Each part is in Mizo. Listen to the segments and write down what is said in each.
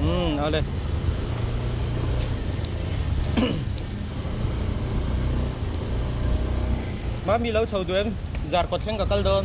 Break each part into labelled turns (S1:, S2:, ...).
S1: Umm, ale. Mami lo chho duh em, zar kawt thleng ka kal dawn.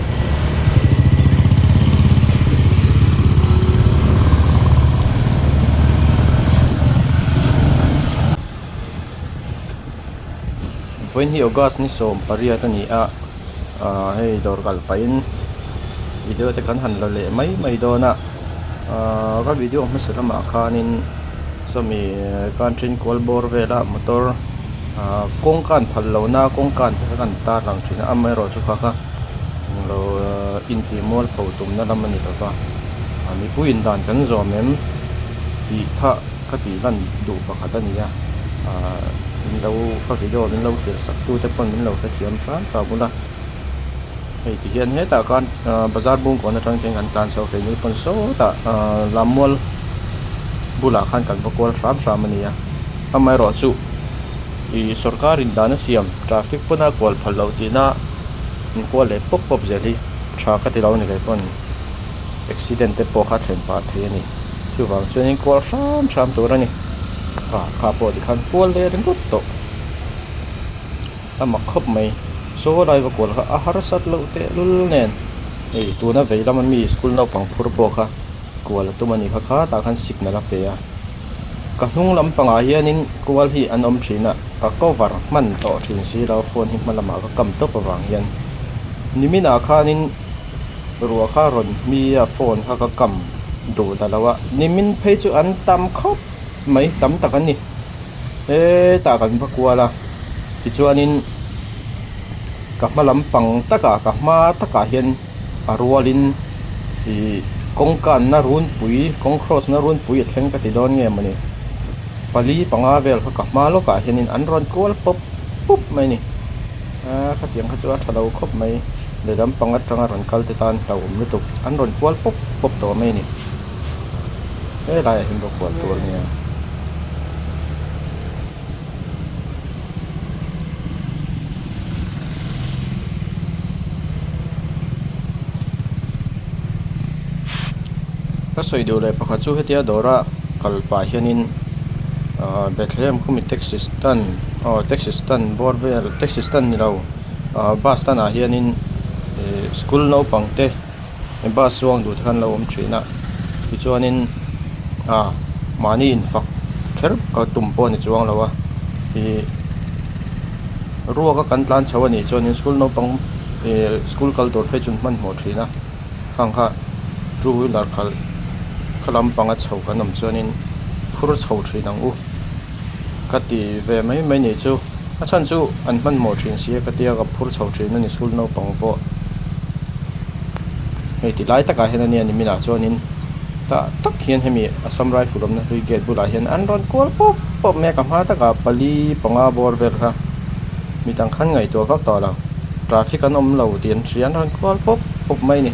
S1: Vawiin hi August ni sawm pariat a ni a ahh hei dawr kal pahin video te kan han la leh mai mai dawn a ahh ka video hmasa lamah khanin chumi country-n kual bawr vela motor ahh kawngka an phalh lohna kawngka te kha kan tarlang thin a amaherawhchu kha kha. Eng lo intih mual pho tumna lam a ni lo va, mipuiin dan kan zawm em? tih thah ka tih lan duh pakhat a ni a, min lo ka video min lo tir sak tute pawn min lo hrethiam hrang ta bul a, hei ti hian hetah khan bazar bung kawn atang chuan kan tan chho keini pawn sawtah lam mual bulah khan kan va kual hram hram a ni a, amaherawhchu ih sorkarin dana siam traffic pawn a kual phal lo tihna. min kual leh pawp pawp zel hi tha ka ti lo ni ve pawn accident te pawh kha thlen pah thei a ni chuvang chuanin kual hram hram tur a ni a kha pawh ti khan kual daih a ringawt tawh ama khawp mai saw a laiva kual kha a harsat loh tehlul nen hei tuna vei lama mi school naupang phur pawh kha kual a tum a nih kha khâ tah khan signal a pe a. Ka hnung lampangah hianin kual hi an awm thin a, ka cover hman tawh thin si lo, phone hi hmalamah ka kam tawp avang hian Nimina khanin ruah kha rawn hmi a, phone kha ka kam duh ta lo a, Nimin phei chu an tam khawp mai tam tak a ni, hetah kan va kual a, tichuanin ka hma lampang takah ka hma takah hian A rualin i kawng kanna runpui, kawng cross na runpui a thleng ka ti dawn nge mawni? Pali panga vel kha ka hma lawkah hianin an rawn kual pawp pawp mai a ni. Aaa khatiang kha chu a tha lo khawp mai, lehlam pang atanga rawn kalte tan hlauhawm lutuk an rawn kual pawp pawp tawh mai a ni. Helaiah hian bawk kual tur a nia. ka sawi duh leh pakhat chu hetia dawra kal pah hianin ahh bethlehem khawmi taxi stand aw taxi stand bawr vel taxi stand ni lo ahh bus stand ah hianin ihh school naupangte-- He bus chuang duh te khan lo awm thin a tichuanin ahh mahni in fak kher ka tum pawh a ni chuang lo a ihh ruaka kan tlan chho a nih chuan school naupang ihh school kal tur phei chu an hmanhmawh thin a khang kha two wheeler khalh khalam panga chho kan awm chuanin phur chho thin ang u. Ka ti ve mai mai nih chu. A chhan chu an hmanhmawh thin si e ka ti a, ka phur chho thin a ni school naupang pawh. Hei ti lai takah hian a nia ni minah chuanin tah tak hian hemi Assam Rifle awmna hlui gate bulah hian an rawn kual pawp pawp mai a, ka hma takah pali panga bawr vel kha mi dang khan ngaihtuah vak tawh lo traffic an awm lo tih an hria an rawn kual pawp pawp mai a ni.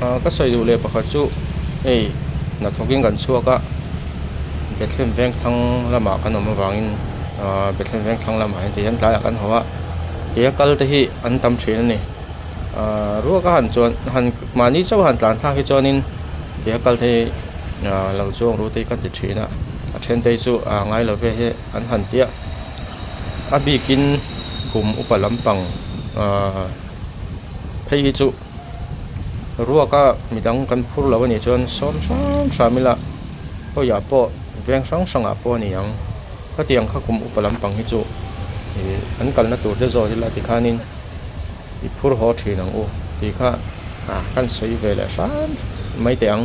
S1: Ahh ka sawi duh leh pakhat chu hei hnathawk in kan chhuak a Bethlehem vengthlang lamah kan awm avang in ahh Bethlehem vengthlang lam ah hian tlai ah kan haw a kei a kal te hi an tam thin a ni ahh ruak a han chuan han mahni chauh a han tlan thlak hi chuan in kei a kal te hi ahh lo chuang ru te hi ka ti thin a a then te hi chu ahh ngai lo ve hi an han tia a bik in kum upa lam pang ahh phei hi chu-- ruaka mi dang kan phur loh anih chuan sawm hrang hrang ila hawiah pawh veng hrang hrangah pawh a ni ang khatiang kha kum upa lampang hi chu ih an kalna tur te zawk ila tikhanin i phur haw thin ang u tih kha ah kan sawi ve leh hrang mai teh ang.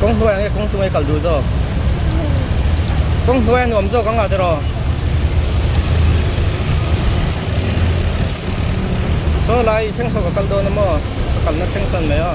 S1: Kawng hnuai ang nge kawng chunga i kal dul zawk? Kawng hnuai a nuam zawk ang ah tiraw? Chaw lai i thleng saw ka kal dawn emaw? Ka kalna thleng sawn mai a.